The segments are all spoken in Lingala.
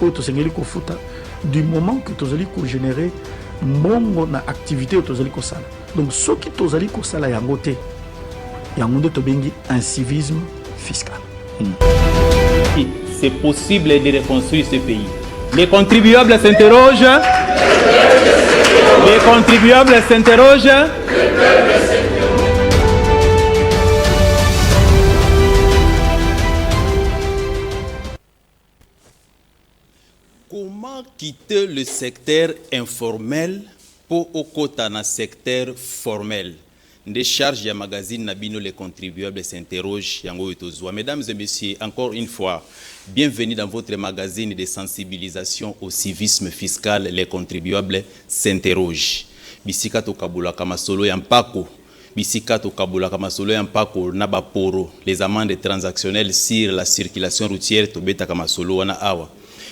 oyo tosengeli kofuta du moment que tozali kogenere mbongo na activité oyo tozali kosala donc soki tozali kosala yango te yango nde tobengi incivisme fiscal hmm. c'est possible de reconstruire ce pays les contribuables s'interrogent les contribuables s'interrogent Comment quitter le secteur informel po okota na secteur formel? Nde charge ya magazine na bino les contribuables s'interrogent yango oyo tozua. Mesdames et messieurs, encore une fois, bienvenue dans votre magazine de sensibilisation au civisme fiscal les contribuables s'interrogent. Bisika tokabolaka masolo ya mpako Bisika tokabolaka masolo ya mpako na ba poro, les amendes transactionnelles sur la circulation routière, tobetaka masolo wana awa.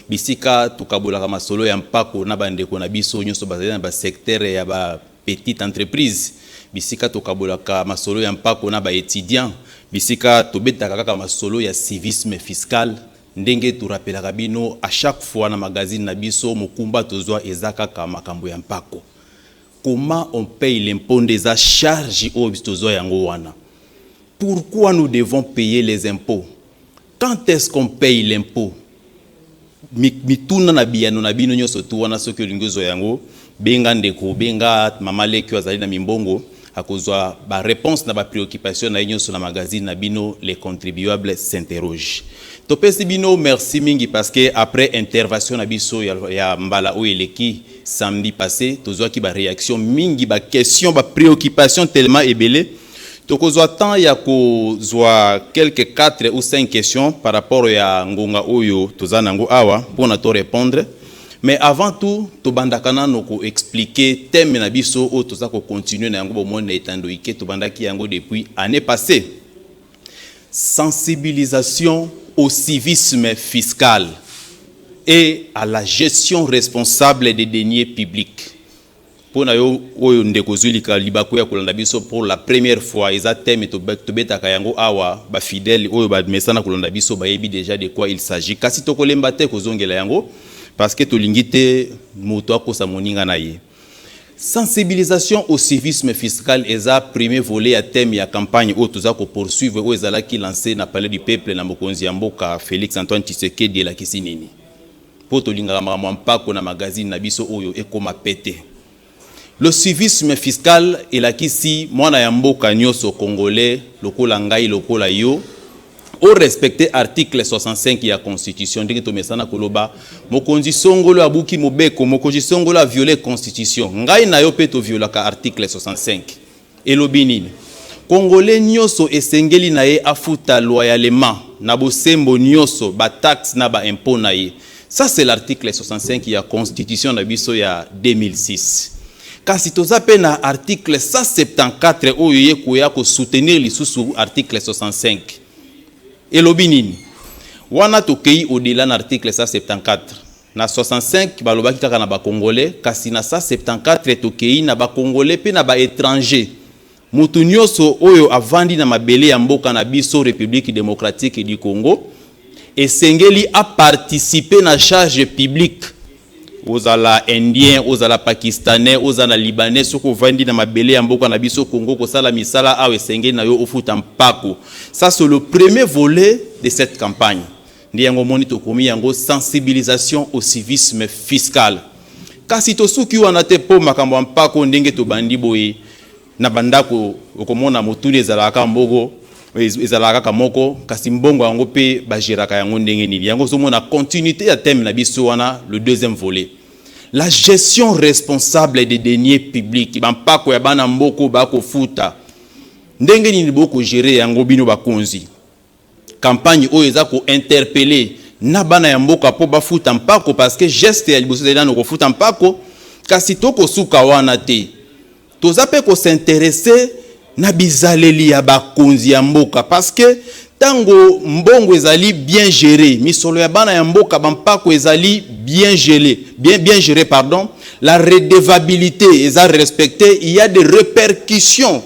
Bisika tokabolaka masolo ya mpako na bandeko na biso nyonso bazali na ba secteurs ya ba petites entreprises, bisika tokabolaka masolo ya mpako na ba etudiants, bisika tobetaka kaka masolo ya civisme fiscal, ndenge to rappelaka bino à chaque fois na magazine na biso, mokumba tozwa eza kaka makambo ya mpako. Comment on paye l'impot nde eza charge oyo biso tozua yango wana. Pourquoi nous devons payer les impots? Quand est-ce qu'on paye l'impot? Mituna na biyano na bino nionso tout wana soki olingi ozua yango benga ndeko benga mama leki oyo azali na mimbongo akozua ba reponse na ba preoccupation na ye nionso na magazine na bino les contribuables s'interrogent. Topesi bino merci mingi parce que après intervation na biso ya mbala oyo eleki, samedi passe tozwaki ba reaction mingi ba question ba preoccupation tellement ebele tokozwa temps ya kozwa quelque 4 ou 5 questions par rapport ya ngonga oyo toza nango awa mpona to répondre mais avant tout tobandaka nano ko expliquer thème na biso oyo toza ko continuer na yango bomoni na etandoike tobandaki yango depuis année passée Sensibilisation au civisme fiscal et à la gestion responsable des deniers publics pona yo oyo ndeko ozui lika libaku ya kolanda biso pour la première fois eza thème tobetaka yango awa ba fidèles oyo ba mesana kolanda biso bayebi déjà de quoi il s'agit kasi tokolemba te kozongela yango parce que tolingi te moto akosa moninga na ye Sensibilisation au civisme fiscal eza premier volet ya thème ya campagne oyo toza ko poursuivre oyo ezalaki lancer na palais du peuple na mokonzi ya mboka Felix Antoine Tshisekedi elakisi nini? Po tolingaka makambo ya mpako na magazine na biso oyo ekoma pete. Le civisme fiscal elakisi mwana ya mboka nioso congolais lokola ngai lokola yo, o respecter article 65 ya constitution ndenge tomesana koloba mokonzi songolo abuki mobeko mokonzi songolo a violer constitution ngai na yo mpe toviolaka article 65 elobi nini kongole nyonso esengeli na ye afuta loyalement na bosembo nyonso bataxe na baimpôt na ye Ça c'est l'article 65 ya constitution na biso ya 2006. Kasi toza pe na article 174 oyo ye koya ko soutenir lisusu article 65. Elobi nini? Wana tokei au-delà na article 174. Na 65 balobaki kaka na ba congolais kasi na 174 tokei na ba congolais pe na ba étrangers. Moto nyoso oyo avandi na mabele ya mboka na biso Republique Democratique du Congo esengeli a participer na charge publique. Ozala indien, ozala pakistanais, ozala libanais, soki ovandi na mabele ya mboka na biso Congo kosala misala awa esengeli na yo ofuta mpako. Ça c'est le premier volet de cette campagne. Nde yango omoni tokomi yango sensibilisation au civisme fiscal. Kasi tosuki wana te mpo makambo ya mpako ndenge tobandi boye na bandako okomona motuli ezalaka kaka moko ezalaka kaka moko kasi mbongo yango mpe bageraka yango ndenge nini yango ozomona continuité ya thème na biso wana le deuxième volet la gestion responsable des deniers publics bampako ya bana mboko bakofuta ndenge nini bokogere yango bino bakonzi Campagne oyo eza ko interpeller na bana ya mboka mpo bafuta mpako parce que geste ya liboso ezali nanu kofuta mpako kasi toko suka wana te. Toza mpe ko s'interesser na bizaleli ya bakonzi ya mboka parce que tango mbongo ezali bien gerer, misolo ya bana ya mboka, ba mpako ezali bien geler, bien, bien gerer pardon, la redevabilite eza respecter, il ya des repercussions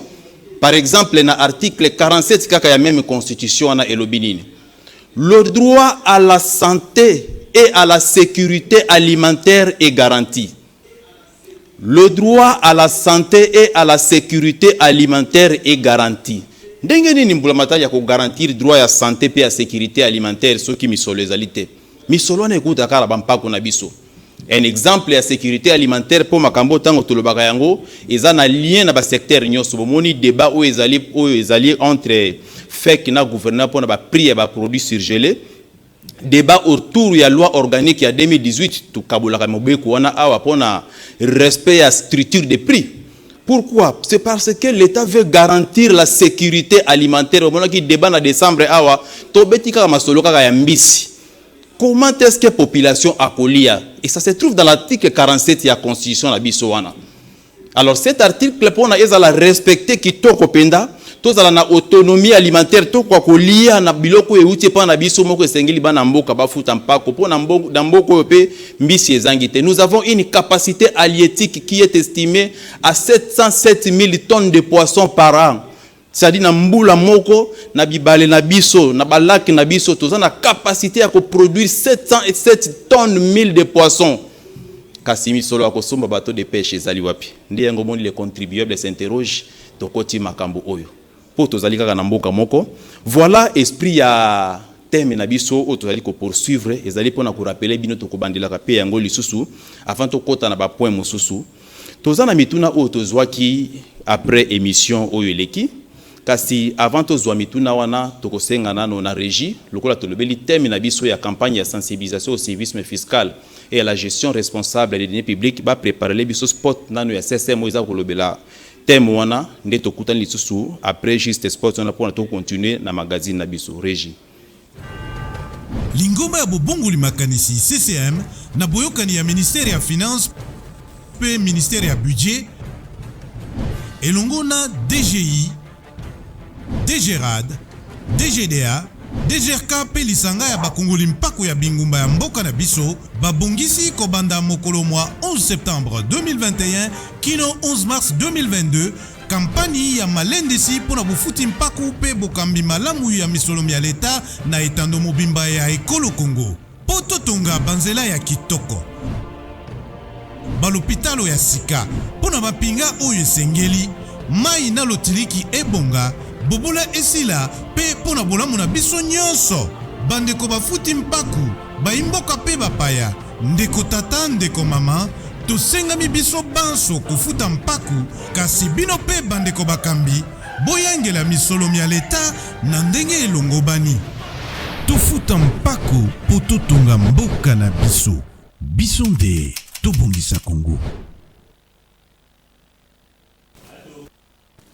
Par exemple na article 47 kaka ya meme constitution wana elobi nini? Le droit à la sante et à la securite alimentaire est garanti. Le droit à la sante et à la securite alimentaire est garanti. Ndenge nini mbulamatari ya ko garantir droit ya sante pe ya securite alimentaire soki misolo ezali te? Misolo wana ekouta kaka na ba mpako na biso. Un exemple ya securite alimentaire mpo makambo oyo ntango tolobaka yango eza na lien na basecteur nyonso. Bomoni debat oyo ezali oyo ezali entre FEC na gouvernement mpo na baprix ya baproduit surgele. Debat autour ya loi organique ya 2018 tokabolaka mobeko wana awa mpo na respect ya structure de prix. Pourquoi? C'est parce que l'État veut garantir la sécurité alimentaire. Omonaki debat na décembre awa tobeti kaka masolo kaka ya mbisi. Comment est-ce que population akolia? Et ça se trouve dans l'article 47 ya constitution na biso wana. Alors cet article pona ezala respecter kitoko penda, tozala na autonomie alimentaire tokoka kolia na biloko oyo euti epai na biso moko esengeli bana mboka bafuta mpako mpo na mboka oyo mpe mbisi ezangi te nous avons une capacité halieutique qui est estimée à 707 000 tonnes de poissons par an C'est-à-dire na mbula moko na bibale na biso na ba lacs na biso toza na capacité ya ko produire 707 tonnes mille de poissons kasi misolo ya kosomba bateau de pêche ezali wapi? Nde yango omoni le contribuable s'interroge, tokoti makambo oyo mpo tozali kaka na mboka moko. Voilà esprit ya teme na biso oyo tozali kopoursuivre, ezali mpo na korapele bino, tokobandelaka mpe yango lisusu avant tokota na bapoint mosusu. Toza na mituna oyo tozwaki après emission oyo eleki, kasi avant tozwa mituna wana tokosenga nano na regie lokola tolobeli thème na biso ya campagne ya sensibilisation au civisme fiscal et à la gestion responsable des deniers publics ba preparele biso spot nano ya SSM oyo eza kolobela thème wana nde tokutani lisusu après juste spot wana pona to continuer na magazine na biso. Regie. Lingomba ya bobongoli makanisi, CCM, na boyokani ya Ministère ya Finances mpe Ministère ya Budget elongo na DGI, DGRAD, DGDA, DGRK mpe lisanga ya bakongoli mpako ya bingumba ya mboka na biso babongisi kobanda mokolo mwa 11 septembre 2021 kino 11 mars 2022 Kampani ya malendisi mpo na bofuti mpaku mpe bokambi malamu ya misolo mya leta na etando mobimba ya ekolo Congo mpo totonga banzela ya kitoko, balopitalo ya sika mpo na mampinga oyo esengeli, mayi na lotiliki ebonga, bobola esila mpe mpo na bolamu na biso nyonso. Bandeko bafuti mpaku. Baimboka pe bapaya, ndeko tata, ndeko mama, tosengami biso banso kofuta mpaku, kasi bino pe bandeko bakambi, boyangela misolo mya leta na ndenge elongobani. Tofuta mpaku po totonga mboka na biso. Biso nde tobongisa Congo.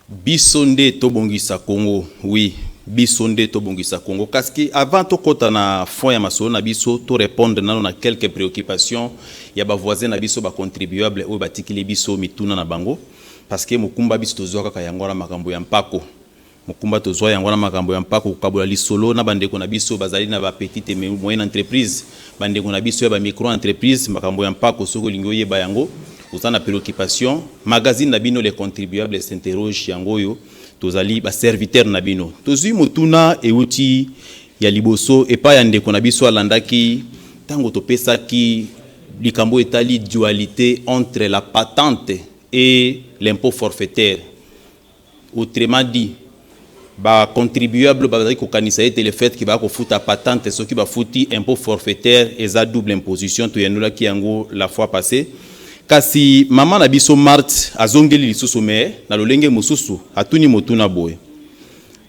Biso nde to bongisa Congo oui biso nde to bongisa Congo kaski avant to kota na fond ya masolo na biso to repondre nano na quelques preoccupations ya ba voisins na biso ba contribuables oyo ba tikili biso mituna na bango parce que mokumba biso tozua kaka yango wana makambo ya mpako Mokumba tozwa yango na makambo ya mpako, kokabola lisolo na bandeko na biso bazali na ba petites et moyennes entreprises, bandeko na biso ya ba micro-entreprises, makambo ya mpako soki olingi oyeba yango oza na preoccupation, magazine na bino Les Contribuables s'interrogent yango oyo, tozali ba serviteurs na bino. Tozwi motuna euti ya liboso epai ya ndeko na biso alandaki ntango topesaki likambo etali dualite entre la patente et l'impôt forfaitaire. Autrement dit, ba contribuables bazali kokanisa ete le fait que baya kofuta patente soki bafuti impot forfaitaire eza double imposition, toyanolaki yango la fois passee. Kasi mama na biso Marthe azongeli lisusu mais na lolenge mosusu, atuni motuna boye,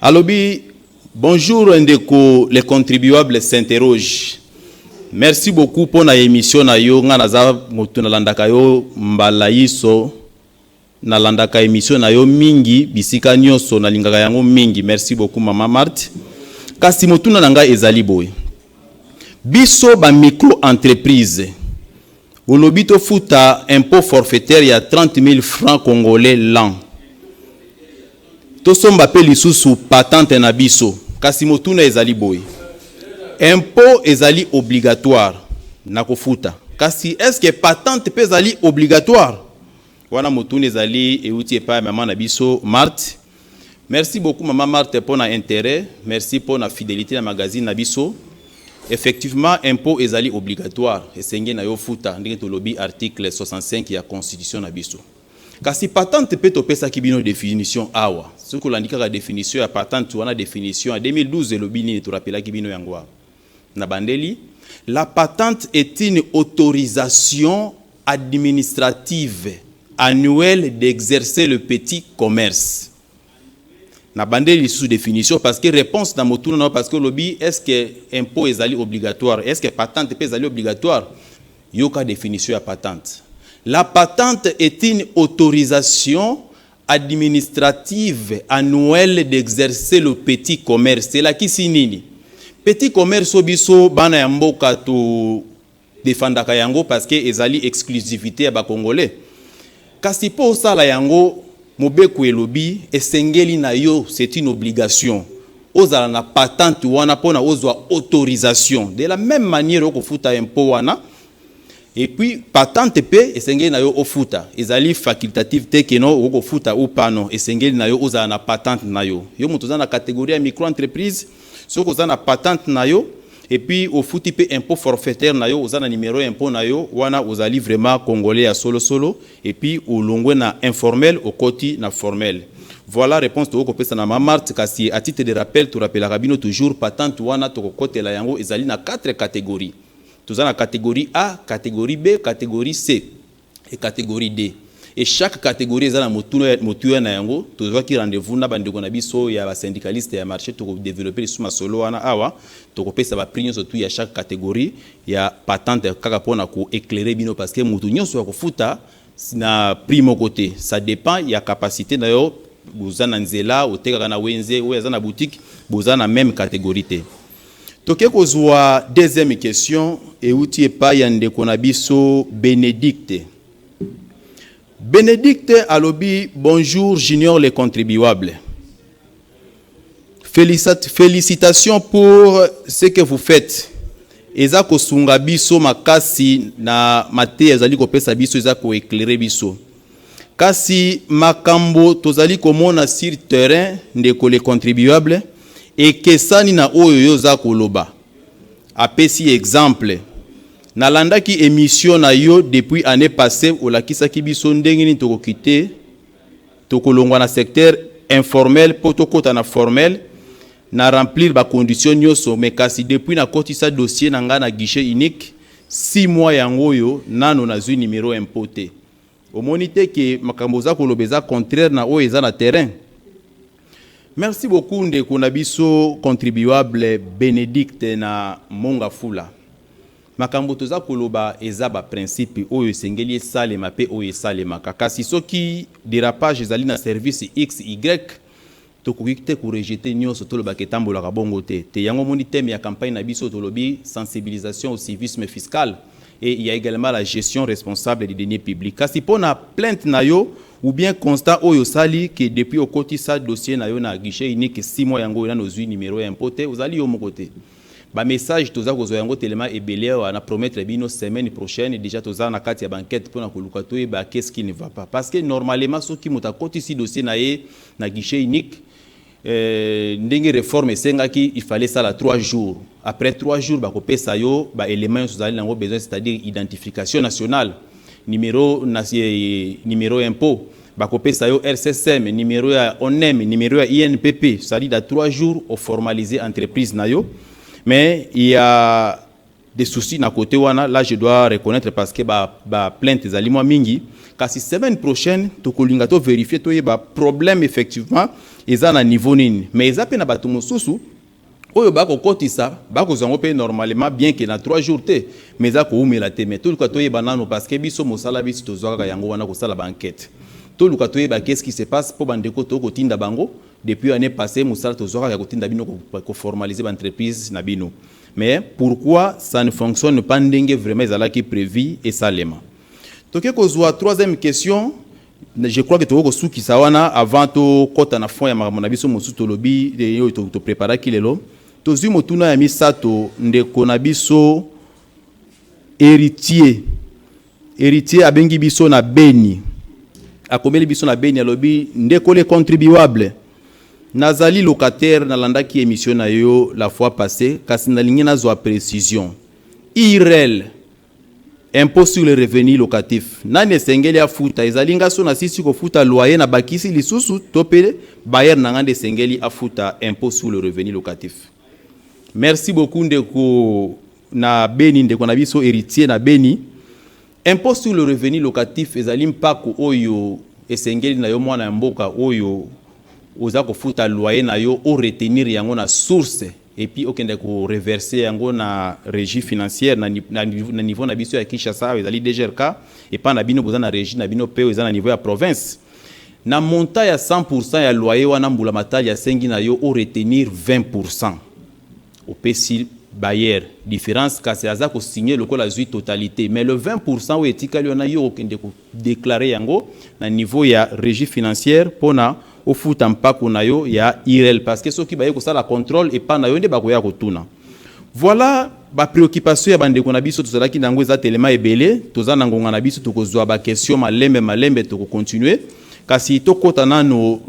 alobi, Bonjour ndeko, le contribuable s'interroge, Merci beaucoup mpo na emission na yo, ngai naza moto nalandaka yo mbala inso, Nalandaka emission na yo mingi bisika nioso nalingaka yango mingi merci beaucoup maman Marthe kasi motuna na ngai ezali boye biso ba micro entreprise olobi tofuta impot forfaitaire ya 30000 francs congolais l'an tosomba pe lisusu patente na biso kasi motuna ezali boye impot ezali obligatoire na kofuta kasi est ce que patente pe ezali obligatoire? Wana motuna ezali euti epai ya mama na biso Marthe. Merci beaucoup mama Marthe mpo na interet, merci mpo na fidelite na magazine na biso. Effectivement, impôt ezali obligatoire, esengeli na yo futa ndenge tolobi article 65 ya constitution na biso. Kasi patente mpe topesaki bino definition awa. Soki olandi kaka definition ya patente wana definition ya 2012 elobi nini torapelaki bino yango awa. Nabandeli, La patente est une autorisation administrative annuelle d'exercer le petit commerce. Nabandeli lisusu definition parce que reponse na motuna na yo parce que olobi est-ce que impot ezali obligatoire? Est-ce que patente pe ezali obligatoire? Yoka definition ya patente. La patente est une autorisation administrative annuelle d'exercer le petit commerce elakisi nini? Petit commerce oyo biso bana ya mboka to defandaka yango parce que ezali exclusivité ya ba congolais. Kasi mpo osala yango mobeko elobi esengeli na yo c'est une obligation ozala na patente wana mpona ozwa autorisation de la même manière okofuta impôt wana Et puis patente pe esengeli na yo ofuta, ezali facultative te que non okoki kofuta ou pas non, esengeli na yo ozala na patente na yo. Yo moto oza na categorie ya micro entreprise, soki oza na patente na yo et puis ofuti pe impot forfaitaire na yo, oza na numero ya impot na yo, wana ozali vraiment congolais ya solo solo et puis olongwe na informel okoti na formel. Voilà reponse tokoki kopesa na ma Marthe, kasi à titre de rappel to rappelaka bino toujours patente wana tokokotela yango ezali na quatre categories. Toza na categorie A, categorie B, categorie C et categorie D. Et chaque categorie eza na motuna, motuya na yango. Tozwaki rendez-vous na bandeko na biso ya ba syndicalistes ya marche, toko developper lisusu masolo wana awa. Tokopesa ba prix nyonso tu ya chaque categorie ya patente kaka pona ko eclairer bino parce que mutu nyonso akofuta na prix moko te. Ça depend ya capacite na yo, oza na nzela, otekaka na wenze, oyo aza na boutique, boza na meme categorie te. Toke kozua deuxième question euti epai ya ndeko na biso Benedicte. Benedicte alobi bonjour Junior le contribuable. Félicitations pour ce que vous faites. eza kosunga biso makasi na mateya ezali kopesa biso eza koeklere biso Kasi makambo tozali komona sur terrain, ndeko le contribuable, ekesani na oyo yo oza koloba. Apesi exemple. Nalandaki emission na yo depuis annee passee, olakisaki biso ndenge nini tokokite tokolongwa na secteur informel mpo tokota na formel na remplir ba conditions nyonso mais kasi depuis nakotisa dossier na ngai na guichet unique six mois yango oyo nano nazwi numero impot te. Omoni te que makambo oza koloba eza contraire na oyo eza na terrain? Merci beaucoup ndeko na biso contribuable Benedicte na Monga Fula. Makambo toza koloba eza ba principe oyo esengeli esalema pe oyo esalemaka. Kasi soki derapage ezali na service XY, Tokoki te ko rejeter nionso, tolobaka etambolaka bongo te te. Yango omoni thème ya campagne na biso tolobi sensibilisation au civisme fiscal et il ya egalement la gestion responsable des deniers publics. Kasi pona plainte na yo ou bien constat oyo osali que depuis okotisa dossier na yo na guichet unique six mois yango oyo nanu ozui numero ya impot te, ozali yo moko te. Ba messages toza kozua yango telema ebele awa, na promettre bino semaine prochaine dejà toza na kati ya ba enquetes pona koluka toyeba qu'est ce qui ne va pas. Parce que normalement soki moto akotisi dossier na ye, na guichet unique euh, ndenge reforme esengaki il fallait sala 3 jours après 3 jours bakopesa yo baélément nyonso ozali nango besoin c'est-à-dire identification nationale numéro, na, eh, numéro impôt bakopesa yo rssm numéro ya onem numéro ya inpp c'est-à-dire da 3 jours oformalise entreprise na yo mais ya des soucis na cote wana là je dois reconnaître parce que ba ba plainte ezali mwa mingi kasi semaine prochaine tokolinga to verifier toyeba problème effectivement eza na niveau nini mais eza pe na bato mosusu oyo bakokotisa bakozwa yango mpe normalement bien ke na 3 jours te mais eza koumela te mais toluka toyeba nano parce que biso mosala biso tozwa kaka yango wana kosala baenquete toluka toyeba qu'est-ce qui se passe mpo bandeko tokotinda bango depuis année passée mosala tozwa kaka ya kotinda bino koformalize baentreprise na bino Mais pourquoi ça ne fonctionne pas ndenge vraiment ezalaki prevu esalema? Toke kozua troisième question, je crois que tokoki kosukisa wana avant tokota na fond ya makambo na biso mosusu tolobi oyo topreparaki lelo. Tozwi motuna ya misato ndeko na biso Heritier Heritier abengi biso na Beni, akomeli biso na Beni, alobi ndeko le contribuable, nazali locataire, nalandaki emission na yo la fois passee, kasi nalingi nazwa precision. IRL, impôt sur le revenu locatif, nani esengeli afuta? Ezali nga so nasisi kofuta loyer na bakisi lisusu to pe bailleur na nga nde esengeli afuta impôt sur le revenu locatif? Merci beaucoup ndeko Na Beni, ndeko na biso Heritier na Beni, impot sur le revenu locatif ezali mpako oyo esengeli na yo mwana ya mboka oyo oza kofuta loyer na yo o retenir yango na source et puis okende ko reverser yango na regie financière na, na, na niveau na biso ya Kinshasa awa ezali DGRK epa na bino boza na regie na bino pe eza na niveau ya province na montant ya 100% ya loyer wana mbula matali asengi na yo o retenir 20% Opesi bailleur difference kasi aza ko signer lokola azui totalite mais le 20% oyo etikali wana yo okende ko declarer yango na niveau ya regie financière pona ofuta mpaku na yo ya IRL parce que soki baye kosala controle epa na yo nde bakoya kotuna. Voilà ba preoccupations ya ba ndeko na biso tozalaki na yango eza telema ebele toza na ngonga na biso tokozua ba questions malembe malembe toko continuer kasi tokota nanu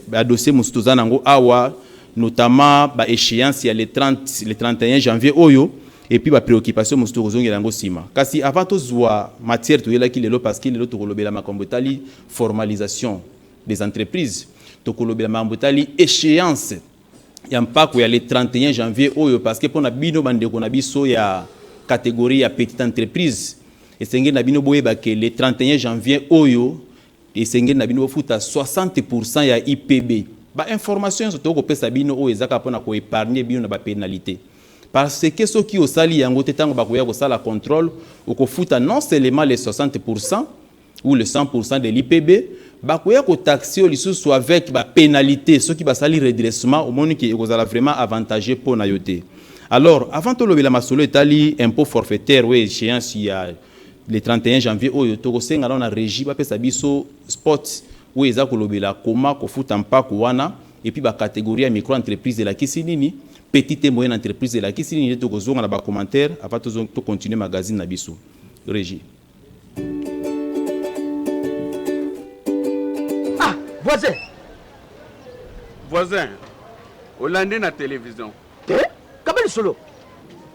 ba dossiers mosusu toza na yango awa notamment ba echeances ya le 30, le 31 janvier oyo et puis ba preoccupations mosusu tokozongela yango sima. Kasi avant tozua matière toyelaki lelo parce que lelo tokolobela makambo etali formalisation des entreprises, tokolobela makambo etali echeance ya mpako ya le 31 janvier oyo parce que pona bino ba ndeko na biso ya categorie ya petite entreprise esengeli na bino boyeba que le 31 janvier oyo Esengeli na bino bofuta 60 pour cent ya IPB. Ba informations nionso toko pesa bino oyo eza kaka pona ko epargner bino na ba penalites. Par ce que soki osali yango te tango bakoya kosala controle, okofuta non seulement les 60 pour cent ou les 100 pour cent de l'IPB, bakoya ko taxer yo lisusu avec ba penalites soki basali redressement, omoni que ekozala vraiment avantageux pona yo te. Alors, avant tolobela masolo etali impot forfaitaire ou echeance ya. le 31 janvier oyo tokosenga nao na regie bapesa biso spot oyo eza kolobela koma kofuta mpako wana epuis ba categorie ya micro entreprise elakisi nini petite et moyenne entreprise elakisi nini nde tokozonga na ba commentaire avant tozonga to continuer magazine na biso regie ah voisin voisin olandi na television te kaba lisolo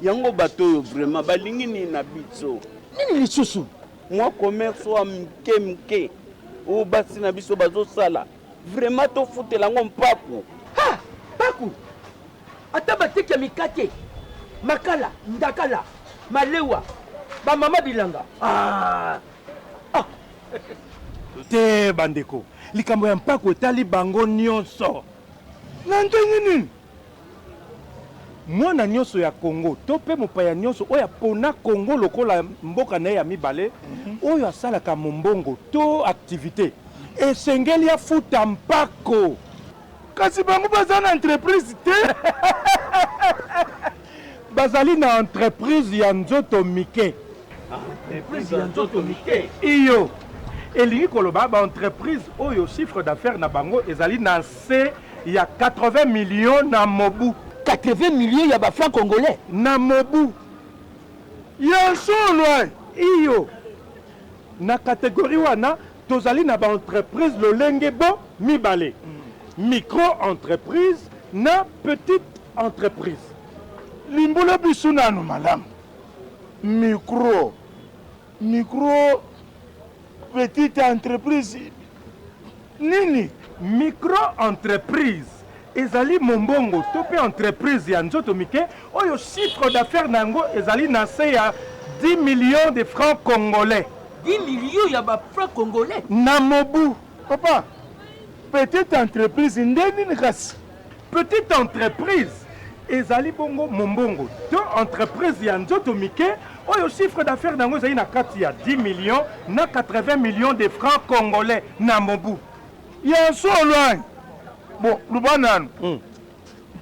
yango bato oyo vraiment balingi nini na biso nini lisusu mwa commerce oyo mike mike oyo basi na biso bazosala vraiment tofutela yango mpaku ha mpaku ata bateki ya mikate makala ndakala malewa bamama bilanga ah. Ah. te bandeko likambo ya mpaku etali bango nyonso na ndenge nini Mwana nionso ya Congo to pe mopaya nionso oyo apona Congo lokola mboka na ye ya mibale, oyo asalaka mombongo to activite, esengeli afuta mpako. Kasi bango baza na entreprise te. Bazali na entreprise ya nzoto mike. Entreprise ya nzoto mike? Iyo. Elingi koloba ba entreprises oyo chiffre d'affaires na bango ezali na nse ya 80 millions na mobu. 80 millions ya ba francs congolais? Na mobu. Ya solo eh? Iyo. Na categorie wana. Tozali na ba entreprises lolenge bo mibale, micro entreprise na petite entreprise. Limbola biso nanu malamu micro, micro petite entreprise nini? Micro entreprise Ezali mombongo to mpe entreprise ya nzoto mike oyo chiffre d'affaires na yango ezali na nse ya 10 millions de francs congolais. 10 millions ya ba francs congolais? Na mobu. Papa, petite entreprise nde nini kasi? Petite entreprise ezali bongo mombongo to entreprise ya nzoto mike oyo chiffre d'affaires na yango ezali na kati ya 10 millions na 80 millions de francs congolais na mobu. Ya solo hein bon loba nanu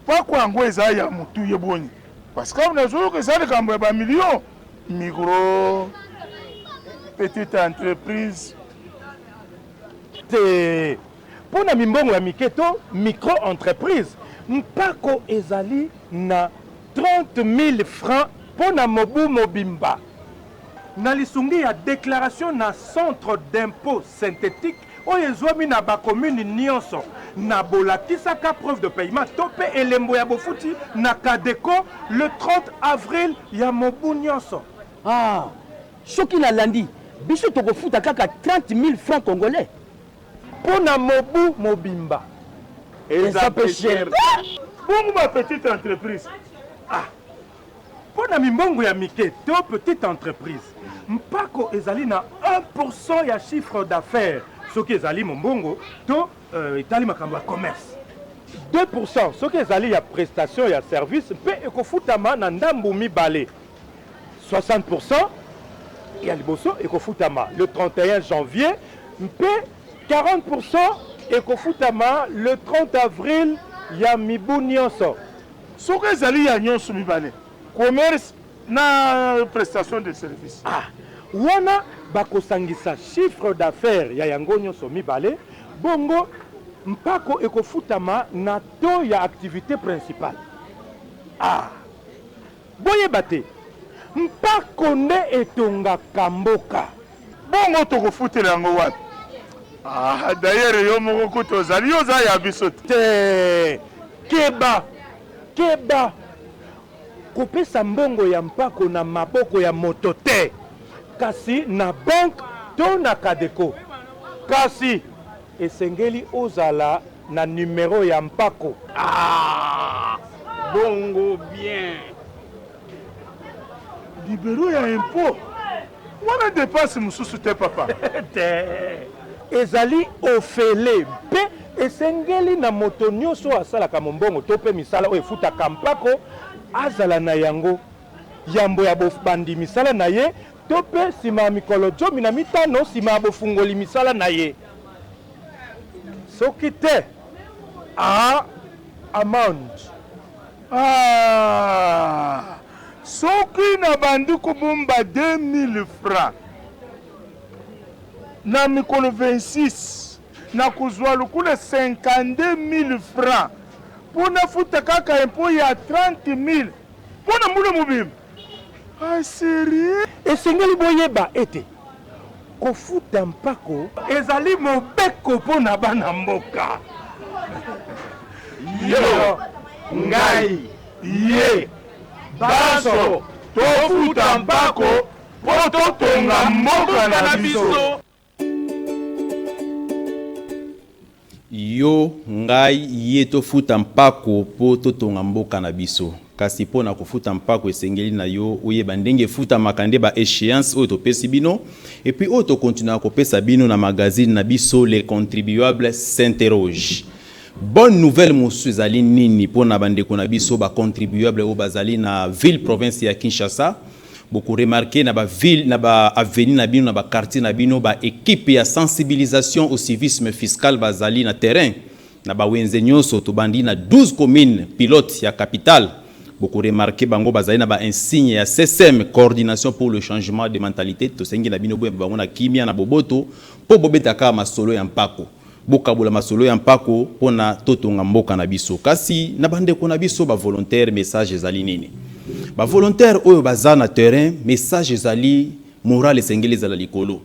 mpako yango eza ya mutu ye boni parce que awa nazo yoka eza likambo ya ba million micro petite entreprise te mpo na mimbongo ya mike to micro entreprise mpako ezali na 30000 francs mpo na mobu mobimba. Na lisungi ya declaration na centre d'impot synthetic oyo ezwami na ba communes nionso na bolakisaka preuve de paiement to mpe elembo ya bofuti na Cadeco le 30 avril ya mobu nionso. Ah! Soki nalandi, biso tokofuta kaka 30.000 francs congolais? Mpo na mobu mobimba. Eza mpe cher te! Bongo ba petites entreprises? Ah! Mpo na mimbongo ya mike to petite entreprise, mpako ezali na 1 pour cent ya chiffre d'affaires soki ezali mombongo to etali makambo ya commerce, 2 pour cent soki ezali ya prestation ya service mpe ekofutama na ndambo mibale, 60 pour cent ya liboso ekofutama le 31 janvier mpe 40 pour cent ekofutama le 30 avril ya mibu nyonso. Soki ezali ya nionso mibale, commerce na prestation de service. A. Wana bakosangisa chiffre d'affaires ya yango nionso mibale, bongo mpako ekofutama na taux ya activite principale. A. Boyeba te mpako nde etongaka mboka. Bongo toko futela yango wapi? Ah d'ailleurs yo moko kutu ozali yo oza ya biso te. Te! Keba! Keba! Kopesa mbongo ya mpako na maboko ya moto te kasi na banque to na Cadeco. Kasi Esengeli ozala na numero ya mpako. Aah bongo bien. Libero ya impot wana depense mosusu te papa? Te. Ezali ofele mpe esengeli na moto nioso asalaka mombongo to mpe misala oyo efutaka mpako azala na yango. yambo ya bobandi misala na ye to mpe nsima ya mikolo zomi na mitano nsima ya bofungoli misala na ye. Soki te, a amende. A Soki nabandi kobomba 2000 francs na mikolo 26, nakozwa lokola 52000 francs mpo nafuta kaka impot ya 30000. Mpo na mbula mobimba. Ah cherie. Esengeli boyeba ete kofuta mpako. Ezali mobeko mpo na bana mboka. Yo, ngai, ye, banso tofuta mpako mpo totonga mboka na biso. Yo, ngai, ye tofuta mpako mpo totonga mboka na biso. Kasi mpo na kofuta mpako esengeli na yo oyeba ndenge efutamaka nde ba echeances oyo topesi bino et puis oyo tokontinuaka kopesa bino na magazine na biso Le Contribuable s'interroge. Bonne nouvelle mosusu ezali nini mpo na bandeko na biso ba contribuables oyo bazali na ville province ya Kinshasa? Boko remarquer na ba villes, na ba avenues na bino, na ba quartiers na bino, ba equipes ya sensibilisation au civisme fiscal bazali na terrain. Na ba wenze nionso, tobandi na 12 communes pilotes ya capitale, boko remarquer bango bazali na ba insignes ya CSM, Coordination pour le changement de mentalites. Tosengi na bino boyeba bango na kimia, na boboto, mpo bobeta kaka masolo ya mpako. Bokabola masolo ya mpako mpo na totonga mboka na biso. Kasi na bandeko na biso ba volontaires message ezali nini? Ba volontaires oyo baza na terrain message ezali morale esengeli ezala likolo.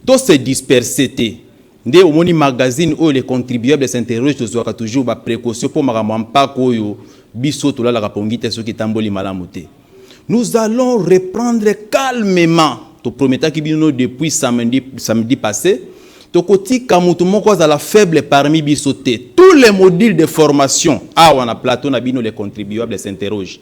To se disperser te. Nde omoni magazine oyo les contribuables s'interrogent tozwaka toujours ba precautions mpo makambo ya mpako oyo biso tolalaka pongi te soki etamboli malamu te. Nous allons reprendre calmement. To prometaki bino depuis samedi, samedi passé. Tokotika mutu moko azala faible parmi biso te. Tous les modules de formation awa na plateau na bino les contribuables s'interrogent.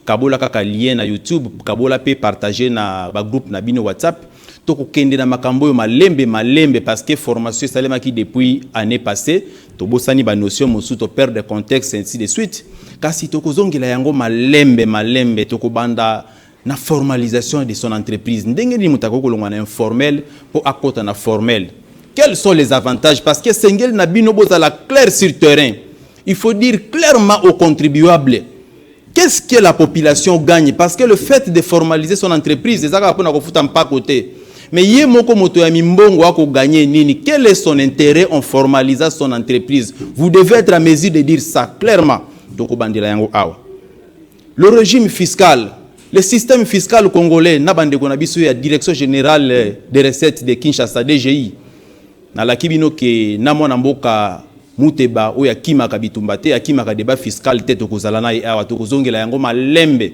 Kabola kaka lien na YouTube, kabola pe partager na ba groupe na bino WhatsApp. Toko kende na makambo oyo malembe malembe parce que formation esalemaki depuis annee passee, tobosani ba notions mosusu, to perdre contexte ainsi de suite. Kasi toko zongela yango malembe malembe, toko banda na formalisation de son entreprise. Ndenge nini moto akoki kolongwa na informel mpo akota na formel? Quels sont les avantages? Parce que esengeli na bino bozala clair sur terrain. Il faut dire clairement aux contribuables Qu'est ce que la population gagne parce que le fait de formaliser son entreprise eza kaka pona kofuta mpako te mais ye moko moto ya mimbongo ako gagner nini quel est son intérêt en formalisa son entreprise vous devez être à mesure de dire ça clairement tokobandela yango awa le régime fiscal le système fiscal congolais na bandeko na biso ya direction générale des recettes de kinshasa dgi nalaki bino ke na mwana mboka Muteba oyo akimaka bitumba te, akimaka debat fiscal te tokozala naye awa tokozongela yango malembe.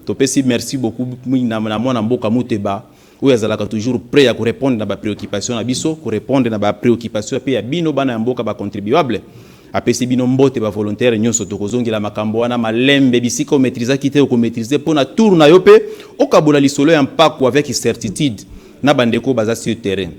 Topesi merci beaucoup na mwana mboka Muteba oyo azalaka toujours pret ya ko repondre na ba preoccupations na biso, ko repondre na ba preoccupations pe ya bino bana ya mboka ba contribuables. Apesi bino mbote ba volontaires nionso tokozongela makambo wana malembe bisika o maitrisaki te oko maitriser po na tour nayo pe okabola lisolo ya mpaku avec certitude na ba ndeko oyo baza sur terrain.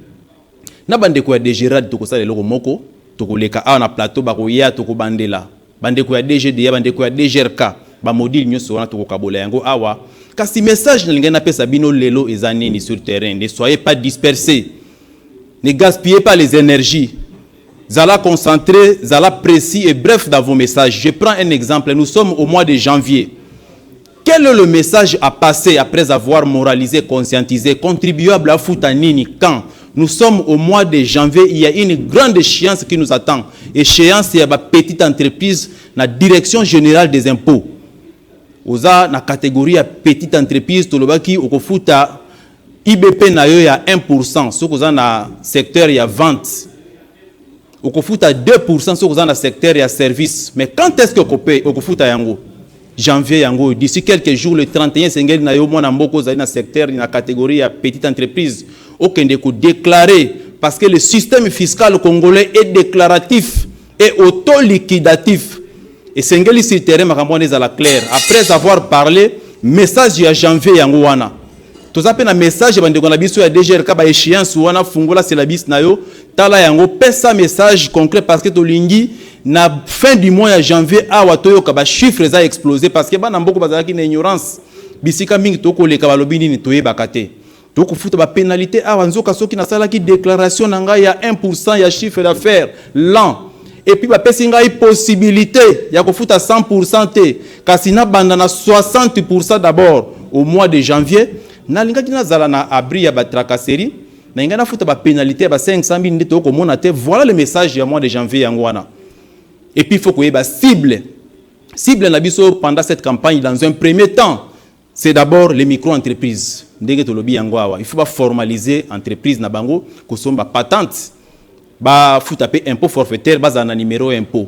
na bandeko ya degerad tokosala eloko moko tokoleka awa na plateau bakoya tokobandela bandeko ya dgda bandeko ya dgrk bamodile nyonso wana tokokabola yango awa kasi message nalingai napesa bino lelo eza nini sur terrain ne soyez pas disperse ne gaspillez pas les énergies zala concentré zala précis et bref dans vos messages je prends un exemple nous sommes au mois de janvier Quel est le message à passer après avoir moralisé, conscientisé, contribuable à fouta nini, quand nous sommes au mois de janvier, il y a une grande échéance qui nous attend, échéance ya ba petite entreprise na direction générale des impôts. Oza na catégorie ya petite entreprise, tolobaki okofuta IBP na yo ya 1%, soki oza na secteur ya vente okofuta 2% soki oza na secteur ya service mais quand est-ce que okope okofuta yango janvier yango oyo d'ici quelques jours le 31 esengeli na yo mwana mboka ozali na secteur na catégorie ya petite entreprise okende kodeklare parce que le système fiscal congolais est déclaratif et autoliquidatif esengeli sur terrain makambo wana ezala claire après avoir parlé message ya janvier yango wana toza mpe na message ya bandeko na biso ya dgrk baéchéance wana fungola syllabus na yo Tala yango pesa message concret parce que tolingi na fin du mois ya janvier awa toyoka ba chiffres eza explose parce que bana mboko bazalaki na ignorance bisika mingi tokoleka balobi nini toyebaka te tokofuta ba penalite awa nzoka soki nasalaki declaration na ngai ya 1% ya chiffre d'affaires l'an epuis bapesi ngai possibilité ya kofuta 100% te kasi nabanda na 60% d'abord au mois de janvier nalingaki nazala na abri ya batracasserie Mais nga na futa ba penalite ya ba 500 mille nde toko mona te. Voilà le message ya mois de janvier yango wana. Et puis faut koyeba cible. Cible na biso pendant cette campagne dans un premier temps, c'est d'abord les micro-entreprises. Ndenge tolobi yango awa, il faut ba formaliser entreprise na bango, kosomba patente, ba futa pe impôt forfaitaire, bazala na numéro impôt.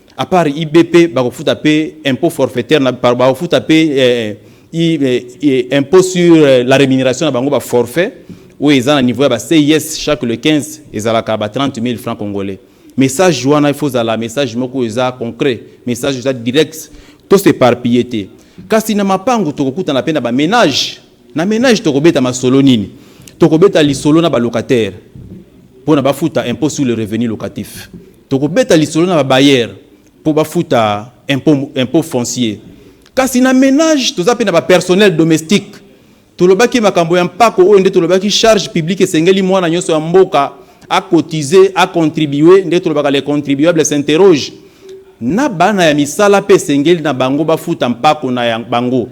à part IBP bakofuta pe impôt forfaitaire na bakofuta pe eh, eh, eh, impôt sur euh, la rémunération na bango ba forfait oyo eza na niveau ya ba CIS chaque le 15 ezalaka ba 30 000 francs congolais message wana il faut zala message moko eza concret message eza direct to s'éparpiller te kasi na mapango tokokutana pe na ba ménage na ménage tokobeta masolo nini tokobeta lisolo na ba locataire mpo na bafuta impôt sur le revenu locatif Tokobeta lisolo na ba bailleurs po bafuta impot, impot foncier. Kasi na menage toza pe na ba personnels domestiques. Tolobaki makambo ya mpako oyo nde tolobaki charge publique esengeli mwana nyoso ya mboka a cotiser, a contribuer, nde tolobaka le contribuable s'interroge. Na bana ya misala pe esengeli na bango bafuta mpako na ya bango.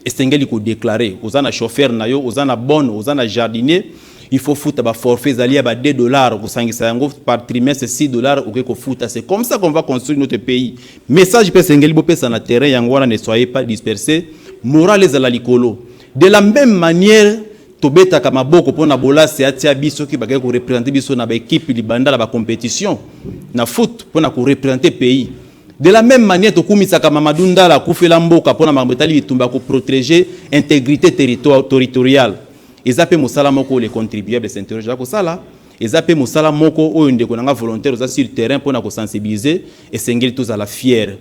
esengeli ko declarer oza na chauffeur na yo oza na bonne oza na jardinier il faut futa ba forfait ezali ya ba 2 dollars kosangisa yango par trimestre 6 dollars oke kofuta c'est comme ça qu'on va construire notre pays message pe esengeli bopesa na terrain yango wana ne soyez pas dispersé morale ezala likolo de la même manière tobetaka maboko mpo na bolasi atia biso soki bakei korepresente biso na baekipe libanda na bacompetition na foot mpo na korepresente pays De la meme manière tokumisaka Mamadou Ndala akufela mboka pona makambo etali bitumba ko proteger integrite territoriale. Eza pe mosala moko les contribuables s'interrogent ko sala. Eza pe mosala moko oyo ndeko na nga volontaire oza sur terrain pona ko sensibiliser esengeli tozala fière.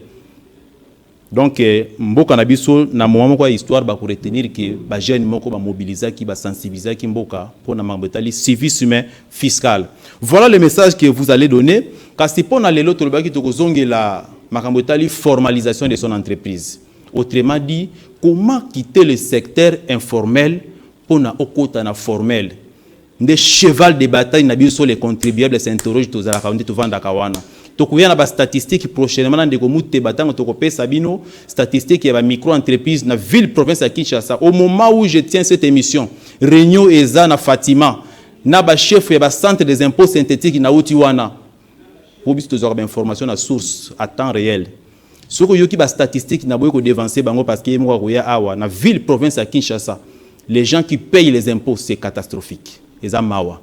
Donc euh, mboka na biso na moment moko ya histoire ba ko retenir que ba jeunes moko ba mobilisaki ba sensibilisaki mboka pona makambo etali civisme fiscale voila le message que vous allez donner kasi pona lelo tolobaki tokozongela makambo etali formalisation de son entreprise autrement dit comment quitter le secteur informel pona okota na formel nde cheval de bataille na biso les contribuables s'interroge tozalaka nde tovandaka wana tokoya na bastatistique prochainement na ndeko muteba ntango tokopesa bino statistique ya bamicro entreprise na ville province ya kinshasa au moment où je tiens cette émission réunion eza na fatima na ba chefs ya ba centres des impots synthetiques nawuti wana, po biso tozwaka ba informations na source à temps reel, soki oyoki ba statistiques naboyi ko devancer bango parce que ye moko akoya awa na ville province ya Kinshasa les gens qui payent les impots c'est catastrophique eza mawa.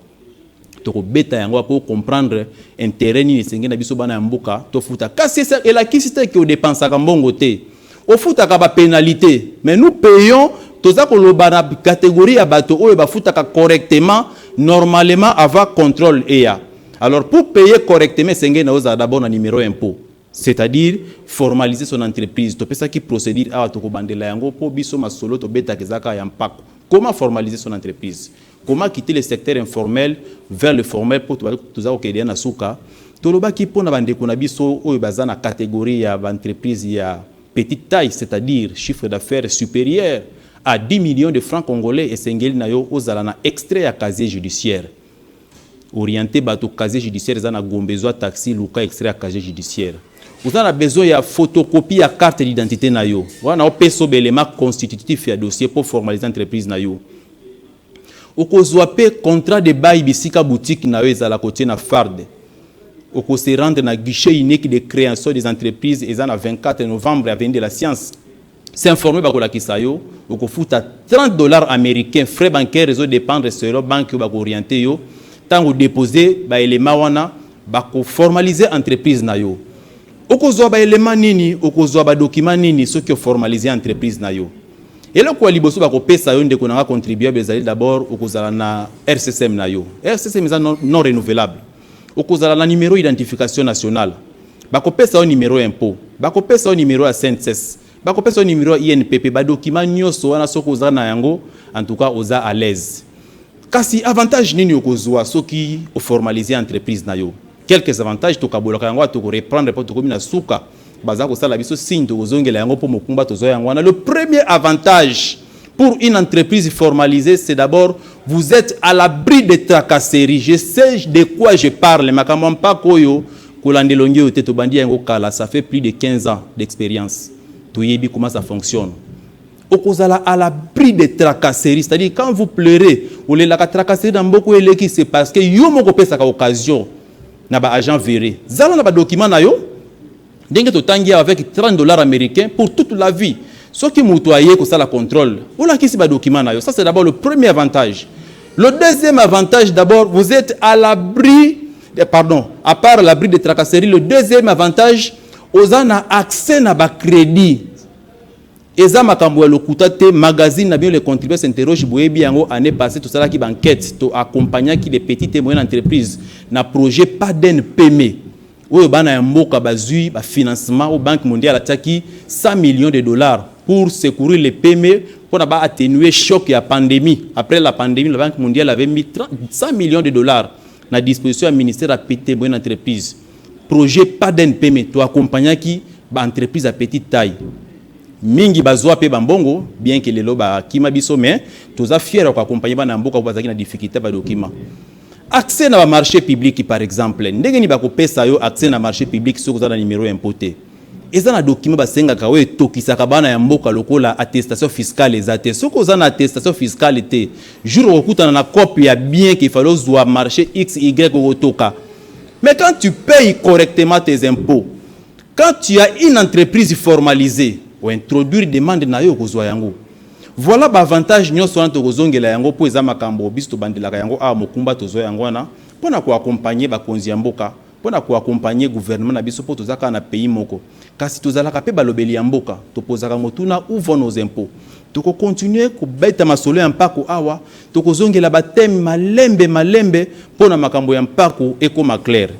Tokobeta yango awa po o comprendre interet nini esengeli na biso bana ya mboka tofuta kasi elakisi te que o depensaka mbongo te. Ofutaka ba penalite mais nous payons toza koloba na categorie ya bato oyo bafutaka correctement normalement avant controle eya alors pour payer correctement esengeli na ozala d'abord na numero ya impot c'est-à-dire formaliser son entreprise topesaki procedure awa tokobandela yango mpo biso masolo tobetaka eza kaka ya mpako comment formaliser son entreprise Comment quitter le secteur informel vers le formel po toza ko kende na suka. Tolobaki pona ba ndeko na biso oyo baza na categorie ya ba entreprises ya petite taille c'est à dire chiffre d'affaires superieur à 10 millions de francs congolais esengeli na yo ozala na extrait ya casier judiciaire. Orienter bato casier judiciaire eza na Gombe zwa taxi luka extrait ya casier judiciaire. Oza na besoin ya photocopie ya carte d'identite na yo wana opesa yo ba elements constitutifs ya dossier po formaliser entreprise na yo. Okozua pe contrat de bail bisika boutique na yo ezala kotie na FARD. Oko se rendre na guichet unique de creation des entreprises eza na 24 novembre avenue de la science. S'informer bakolakisa yo, okofuta 30 dollars americains frais bancaires ezo dependre selon banque oyo bako orienter yo. Tango o deposer ba elements wana bako formaliser entreprise na yo. Okozua ba elements nini? Okozua ba documents nini soki o formaliser entreprise na yo? Eloko ya liboso bakopesa yo ndeko na nga contribuable ezali d'abord okozala na RCSM na yo. RCSM eza non, non renouvelable. Okozala na numero identification nationale. Bakopesa yo numero ya impôt. Bakopesa yo numero ya CNSS. Bakopesa yo numero ya INPP. Ba document nyonso wana soki oza na yango, en tout cas oza à l'aise. Kasi avantage nini okozwa soki oformaliser entreprise na yo? Quelques avantages tokabolaka yango awa toko reprendre po tokomi na suka baza kosala biso signe tokozongela yango po mokumba tozwa yango wana le premier avantage pour une entreprise formalisee c'est d'abord vous etes à l'abri de tracasserie je sais de quoi je parle makambo ya mpako oyo kolanda elongi oyo te tobandi yango kala ça fait plus de 15 ans d'experience toyebi comment ça fonctionne okozala à l'abri de tracasserie c'est à dire quand vous pleurez olelaka tracasserie na mboko eleki c'est parce que yo moko opesaka occasion na ba agent verre zala na badocument na yo ndenge totangi awa avec 30 dollars américain pour toute la vie soki moto aye kosala contrôle olakisi badocument na yo ça c'est d'abord le premier avantage le deuxième avantage d'abord vous êtes à l'abri eh, pardon à part l'abri de tracasserie le deuxième avantage oza na accès na bacrédit Eza makambo ya lokuta te, magazine na bino les contributeurs s'interrogent boyebi yango, annee passee tosalaki ba enquetes, to accompagnaki les petites et moyennes entreprises na projet PADEN PME oyo bana ya mboka bazui ba financements oyo banque mondiale atiaki 100 millions de dollars pour secourir les PME mpo na ba attenuer choc ya pandemie. Après la pandemie, la banque mondiale avait mis 100 millions de dollars Na disposition ya ministère ya Petite et Moyenne Entreprise, projet PADNPM to accompagnaki ba entreprises ya petite taille mingi bazua mpe ba mbongo bien que lelo ba kima biso mais toza fière ya ko accompagner bana ya mboka oyo bazalaki na difficulté ya ba documents. Accès na ba marches publics par exemple, ndenge nini bako pesa yo accès na marche public soki oza na numero ya impot te? Eza na document basengaka oyo etokisaka bana ya mboka lokola attestation fiscale eza te. Soki oza na attestation fiscale te, jour okokutana na coop ya bien qu'il fallait ozwa marché XY okotoka. Mais quand tu payes correctement tes impôts, quand tu as une entreprise formalisee, o introduire demande na yo okozwa yango. Voilà ba avantages nyonso wana tokozongela yango mpo eza makambo biso tobandelaka yango awa mokumba tozwa yango wana mpo na ko accompagner bakonzi ya mboka pona ko accompagner gouvernement na biso po toza kaka na pays moko kasi tozalaka pe balobeli ya mboka topozaka motuna où vont nos impots toko continuer kobeta masolo ya mpako awa tokozongela ba thème malembe malembe pona makambo ya mpako ekoma claire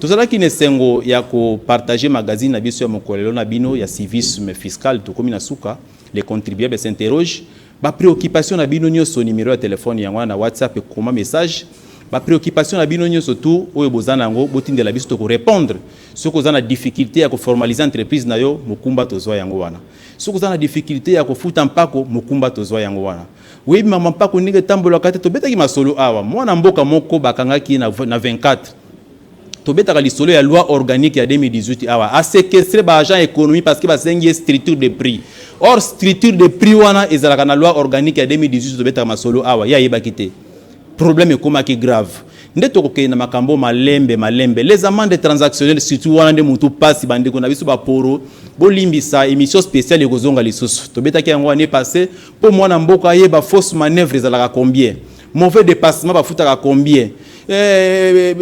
tozalaki na esengo ya ko partager magazine na biso ya mokolelo na bino ya civisme fiscal tokomi na suka les contribuables s'interrogent Ba preoccupations na bino nioso numero ya telephone yango wana na WhatsApp ekoma message ba preoccupations na bino nioso tout oyo boza na yango botindela biso toko repondre soki oza na difficulte ya ko formaliser entreprise na yo mokumba tozwa yango wana soki oza na difficulte ya kofuta mpako mokumba tozwa yango wana oyebi mama mpako ndenge etambolaka te tobetaki masolo awa mwana mboka moko bakangaki ye na, na 24 Tobetaka lisolo ya loi organique ya 2018 awa a séquestrer ba agents économie parce que basengi structure de prix. Or structure de prix wana ezalaka na loi organique ya 2018 tobetaka masolo awa ye ayebaki te. Problème ekomaki grave. Nde tokokende na makambo malembe malembe. Les amendes transactionnelles surtout wana nde mutu pasi bandeko na biso ba poro bolimbisa émission spéciale ekozonga lisusu. Tobetaki yango année passée po mwana mboka ayeba fausse manœuvre ezalaka combien. Mauvais depassement bafutaka combien? Eh,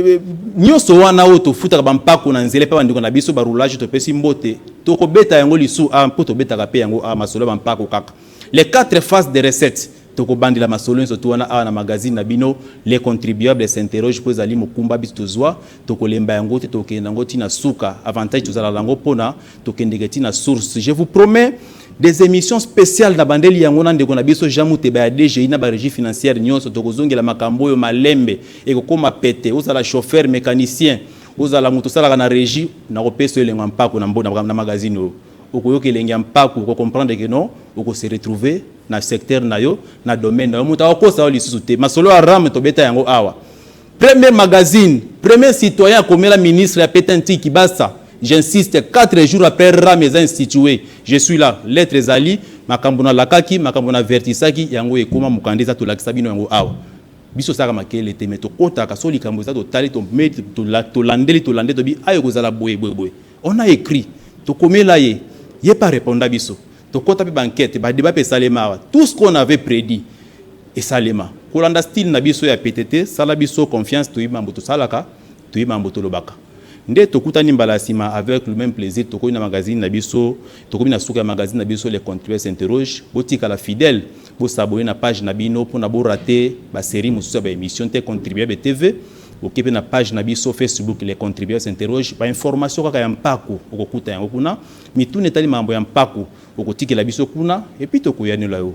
nyoso wana oyo tofutaka bampako na nzela epai bandeko na biso barulage topesi mbote tokobeta yango lisu a ah, mpo tobetaka mpe yango a ah, masolo ya bampako kaka les quatre phases de recette tokobandela masolo nyonso tu wana awa na magazine na bino les contribuables s'interroge mpo ezali mokumba biso tozwa tokolemba yango te tokokende yango ntina suka avantage tozala na yango mpona Tokendeke ti na source. Je vous promets des émissions spéciales na bandeli yango na ndeko na biso Jean Muteba ya DGI na ba régie financière nyonso tokozongela makambo oyo malembe ekokoma pete ozala chauffeur mécanicien ozala moto osalaka na régie na kopesa elengo ya mpako na mbo na magazine oyo okoyoka elengi ya mpako ko comprendre que non oko se retrouver na secteur na yo na domaine na yo moto akokosa yo lisusu te masolo ya rame tobeta yango awa Premier magazine, premier citoyen akomela ministre ya pete Ntiki basta, j'insiste, 4 jours après ram eza institue, je suis là, lettre ezali, makambo na lakaki, makambo na avertisaki, yango ekoma mokanda eza tolakisa bino yango awa. Biso tosalaka makelele te mais tokotaka soki likambo eza totali, tomeli, tolandeli, tolande, tolobi awa ekozala boye, boye, boye. On a ecrit, tokomela ye, ye mpe a reponda biso. tokota pe ba enquete ba debat pe esalema awa tout ce qu'on avait predit esalema kolanda style na biso ya petete sala biso confiance toyebi mambo tosalaka toyebi mambo tolobaka nde tokutani mbala ya nsima avec le même plaisir tokomi na magazine na biso tokomi na suka ya magazine na biso le contribue s'interroge botikala fidèle bosabone na page na bino mpona borate baserie mosusu ya baémission te contribuable tv oke mpe na page na biso facebook le contribue s'interroge bainformation kaka ya mpako okokuta yango kuna Mituna etali makambo ya mpako okotikela biso kuna et puis tokoyanola yo.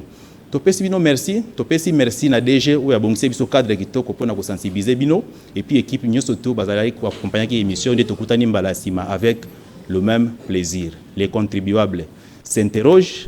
Topesi bino merci, topesi merci na DG oyo abongiseli biso cadre kitoko pona ko sensibiliser bino et puis equipe nyoso tout bazalaki ko accompagnaki emission nde tokutani mbala ya sima avec le meme plaisir. Les contribuables s'interrogent,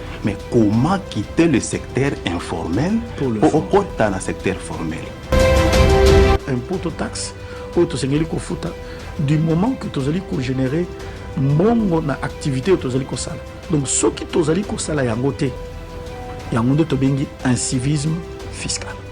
mais comment quitter le secteur informel mpo okota na secteur formel impôt to taxe oyo tosengeli kofuta du moment que tozali kogénere mbongo na activité oyo tozali kosala donc soki tozali kosala yango te yango nde tobengi incivisme fiscal